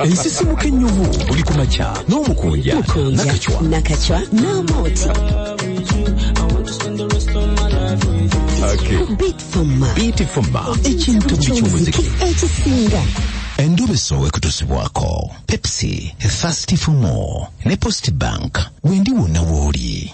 ensisimuka ennyuvu buli ku makya n'omukunja nakacwa nakacwa n'amooti beatfoma ekintu buli ky'omuziki ekisinga endobeso wekutusibwako pepsi thirsty for more ne post bank wendi wonna wooli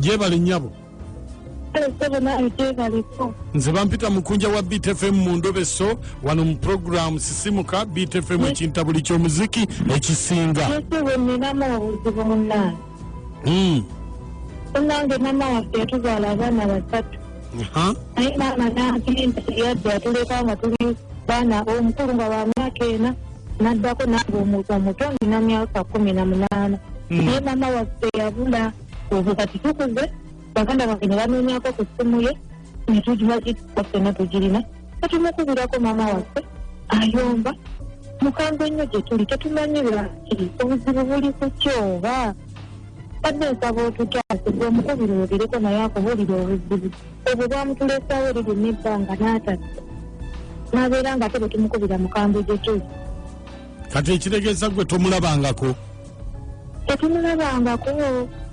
gyebale nyabo nze bampita mukunja wa btfm mu ndobeso wano mu programu sisimuka btfm ekintabuli ky'omuziki ekisinga nange mama waffe yatuzaala abaana basatu naye maama nampinda yadde atuleka nga tuli baana omukulu nga wa myaka ena naddako nange omuntu omuto ndina myaka kumi na munaana hmm. naye maama waffe yabula ozo kati tukuze baganda bange ne banoonyako ku ssimu ye netugibagitwa ffena tugirina tetumukubirako maama waffe ayomba mukambwe nnyo gye tuli tetumanyi lwaki obuzibu buli ku kyoba badde nsaba otutaase gwe omukubiri obireko naye akubulira obuzibu obwo bwamutulesawo liri nebbanga n'atatu n'abeera nga te bwe tumukubira mukambwe gye tuli kati ekitegeeza gwe tomulabangako tetumulabangako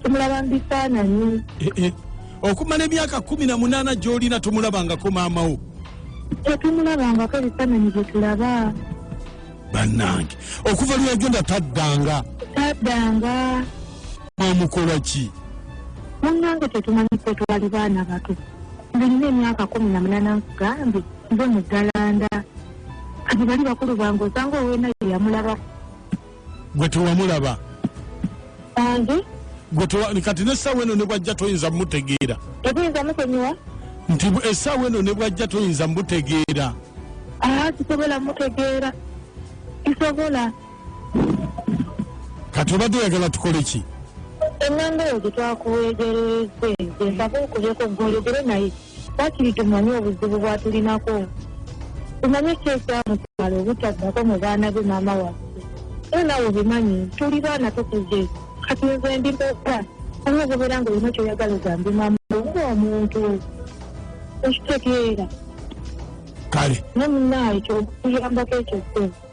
tumulaba mu bifaananyi eh, eh. okumala emyaka kumi na munaana gy'olina tomulabangako maamawo tetumulabangako ebifaananyi bye tulaba bannange okuva lweyagenda taddanga taddanga mwamukola ki munange tetumanyi kwe twali baana bato ngenina emyaka kumi na munana nkugambye nze muggalanda kati bali bakulu bange osanga owena yeyamulaba gwe tewamulaba ange kati nesaawa eno nebwajja toyinza mutegeera ebuyinza musonyiwa nti esaawa eno nebwajja toyinza mutegeera ah, kisobola mutegeera kisobola kati obadde oyagala tukole ki ennanga eyo gye twakuweegererezze gyesaba okubyeko gwologere naye bakiri tumanye obuzibu bwatulinako tumanye ki ekyamutwala obutaddako mu baana be maama waffe era nawe obimanyi tuli baana tukuze kati nze ndi boka oba ogobeera nga olina kyoyagala ogambe maama oba omuntu okitegeera kale ne munaayo kyokuyambako ekyo kyo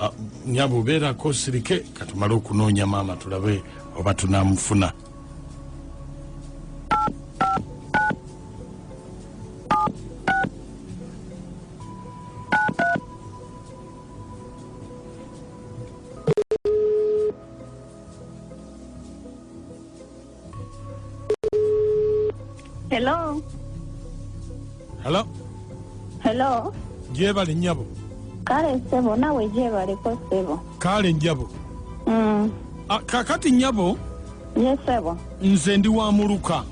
Ah, nyabo beerako osirike katumale okunoonya maama tulabe oba tunamufuna Hello. Hello. Hello. Jebale nyabo. Kale sebo nawe jebale ko sebo. Kale njabo. Mm. Ah, kakati nyabo. Yes sebo. Nze ndi wa muluka.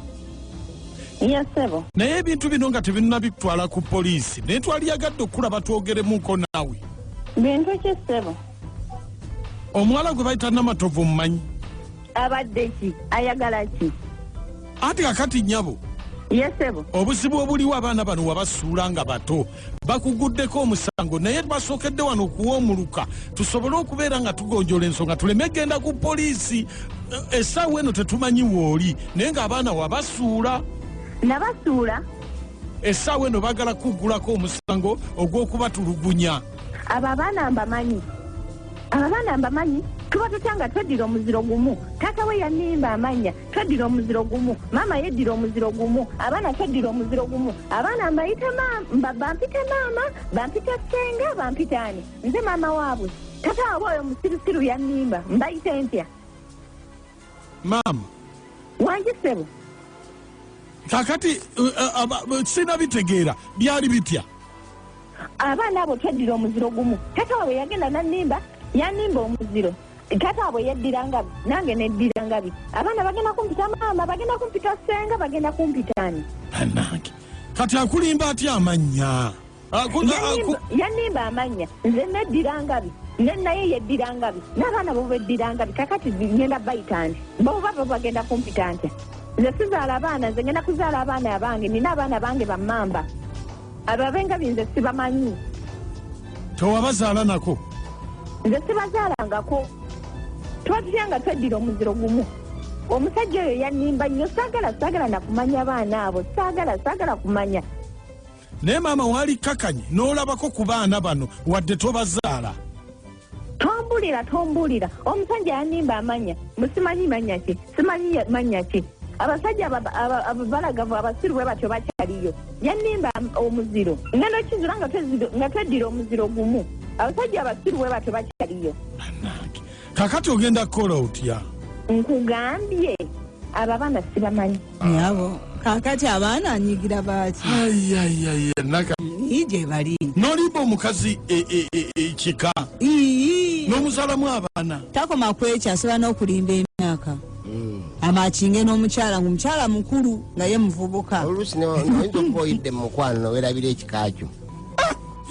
Yes sebo. Naye ebintu bino nga tebinna bitwala ku poliisi. Ne twali yagadde okulaba twogeremu nko nawe. Bintu ki sebo? Omuwala gwe bayita Namatovu mmanyi. abadde ki ayagala ki anti kakati nyabo yesebo obuzibu obuliwo abaana bano wabasuula nga bato bakuguddeko omusango naye basookedde wano okuwa omuluka tusobole okubeera nga tugonjola ensonga tuleme genda ku poliisi eh, esaawa eno tetumanyi wooli naye ng'abaana wabasuula nabasuula esaawa eno bagala kuggulako omusango ogw'okubatulugunya abo abaana mbamanyi abo abaana mbamanyi tuba tutya nga tweddira omuziro gumu taata we yanimba amanya tweddira omuziro gumu maama yeddira omuziro gumu abaana tweddira omuziro gumu abaana mbayite bampite maama bampite senga bampite ani nze maama waabwe taata wabwe oyo musirusiru yanimba mbayite ntya maama wangi sebo kakati uh, uh, uh, sina bitegeera byali bitya abaana abo tweddira omuziro gumu tata wabwe yagenda nanimba yanimba omuziro tata wabwe yeddira ngabi nange neddira ngabi abaana bagenda kumpita maama bagenda kumpita senga bagenda kumpitani anange kati akulimba atya amannya yanimba amannya nze neddira ngabi ne naye yeddira ngabi n'abaana bo beddira ngabi kakati ngenda bayita nti boba bo bagenda kumpita ntya nze sizaala abaana nze ngenda kuzaala abaana abange nina abaana bange bamamba abo abengabi nze sibamanyi tewabazaala nako nze sibazaalangako tuba tutya nga tweddira omuziro gumu omusajja oyo yanimba nnyo saagala saagala nakumanya abaana abo saagala saagala kumanya naye maama waali kakanye n'olabako ku baana bano wadde tobazaala tombulira tombulira omusajja yanimba amanya musimanyi manya ki simanyi manya ki abasajja abalagavu abasiru bwe batyo bakyaliyo yanimba omuziro ngenda okizula nga tweddira omuziro gumu abasajja abasiru bwe batyo bakyaliyo kakati ogenda kukola otya nkugambye abo abaana sibamanyi nyabo kakati abaana anyigira baaki ayayaya naka ii gyebali nolimba omukazi e- e- e- ekika ii nomuzalamu abaana takoma kwekyo asobola n'okulimba emyaka amakinge n'omukyala ngaomukyala mukulu nga ye muvubuka oluusi ne- noyinza okuba oyidde mu mukwano nowerabira ekikakyo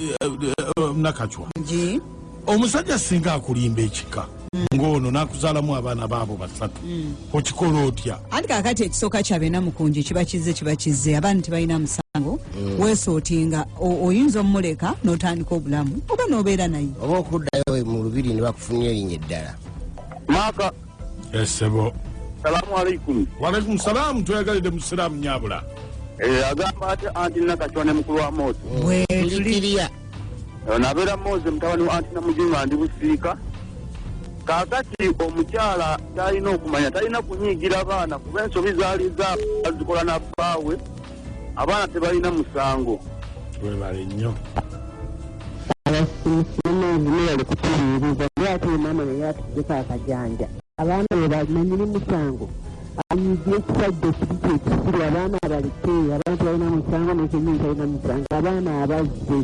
Eh, eh, eh, nakacwa Nji. omusajja singa akulimba ekika ng'ono n'akuzaalamu abaana baabo basatu okikola otya anti kakati ekisooka kyabena mukunji kiba kizze kiba kizze abaana tebalina musango mm. weesootinga oyinza omumuleka n'otandika obulamu oba n'obeera naye oba okuddayo mu lubiri ne bakufunira erinnya eddala esebo salamu alaikum walaikum salamu tweyagalidde musiraamu nyabula eh, agamba ati anti nakacwa ne mukulu wa moto bwetulikiria eh, nabeera moze mutabani wa anti namujinga ndi busiika kakati omukyala talina okumanya talina kunyigira baana kuba ensobi zaali za azikola nabbaawe abaana tebalina musango webale nnyo abaana bebalimanyiri musango ayige ekisajja kiri kyekisiru abaana abaleke abaana tebalina musango nekenyini talina musango abaana abazze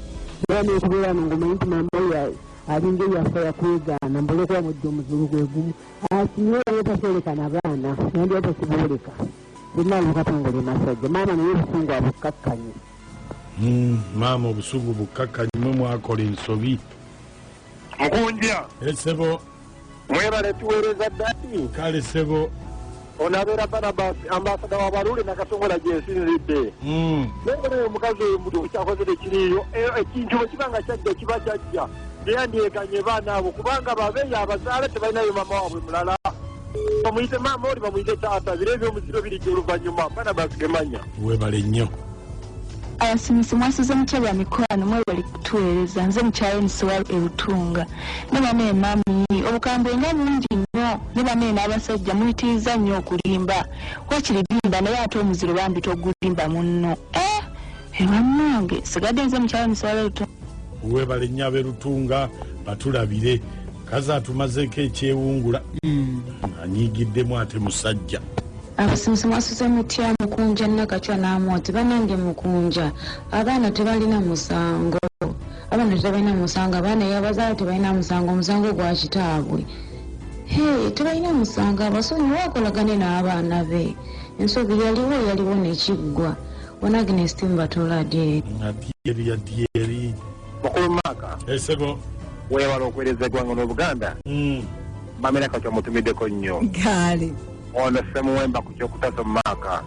era nokubeera no ngomanyi nti mamawe alinga eyafa yakwegaana mbolekuba mujja omuzulu gwegumu asinyeera yatasoleka nabaana nandi yatakiboleka Binali Katongole Masajja, maama naye obusungu abukkakkanye. Hmm, maama obusungu bukkakkanye, mwe mwakola ensobi. Mukunja. Esebo. Eh, Mwebale tuweereza ddati. Kale sebo. Ono abeera Barabas ambasada wa Baruuli na Katongola gyensinzidde. Hmm. Naye omukazi oyo mutu kyakozere kiriyo ekintu eh, eh, bwe kiba nga kyajja kiba kyajja. beyandyeganye baana abo kubanga babeeyo abazaala tebalinayo maama waabwe mulala bamuyite maama oli bamuyite taata biro ebyomuziro birijja oluvannyuma abaana bazigemanya webale nnyo abasimisi mwasuze mutya bya mikwano mwebali kutuweereza nze mukyaye nisiwa erutunga ne bana emami obukambwe nga bungi nnyo ne bana en'abasajja muyitiriza nnyo okulimba wakiri limba naye ate omuziro bambi togulimba munno eh! ebannange sigadde nze mukyala muswala lutu webale nnyo aberutunga batulabire kazi atumazeeko ekyewungula hmm. anyigiddemu ate musajja abasomesa mwasuze mutya mukunja nakacwa namwoti banange mukunja abaana tebalina musango abaana tebalina musango abaana yabazaala tebalina musango omusango gwa kitaabwe he tebalina musango abasonyi wakolagane n'abaana be ensobi yaliwo yaliwo nekiggwa Bwana Agnes Timba tola dye. Nga dye dye dye dye. Mukulu Maka. Esego. Eh, Wewala okuwereza egwango n'Obuganda. Mm. Mamira kakyo mutumideko nnyo. Gaali. Ono semuwemba ku kyokutaso Maka.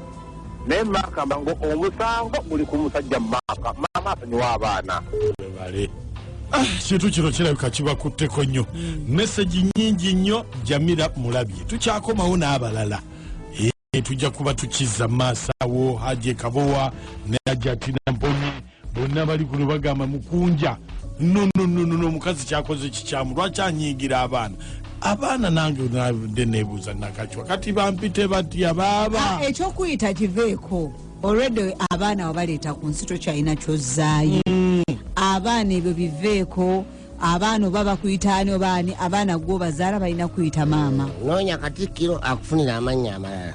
Naye Maka mbango omusango guli ku musajja Maka. Mama asonyiwa abaana. Webale. Webale. Ah, kintu kino kirabika kibakutteko nnyo hmm. mesagi nyingi nnyo jamira mulabye tukyakomawo n'abalala tujja kuba tukiza maaso awo haje kabowa ne ajatina mponye bonna bali kuno bagamba mukunja nonononono omukazi kyakoze kikyamu lwaki anyiigira abaana abaana nange nde nebuuza nakacwa kati bampite batya baaba ah, ekyokuyita kiveeko olwedde abaana wabaleeta ku nsi tokyalina kyozzaayo mm. abaana ebyo biveeko abaana oba bakuyita ani oba ani abaana gwo bazaala balina kuyita maama noonya katikkiro akufunira amannya amalala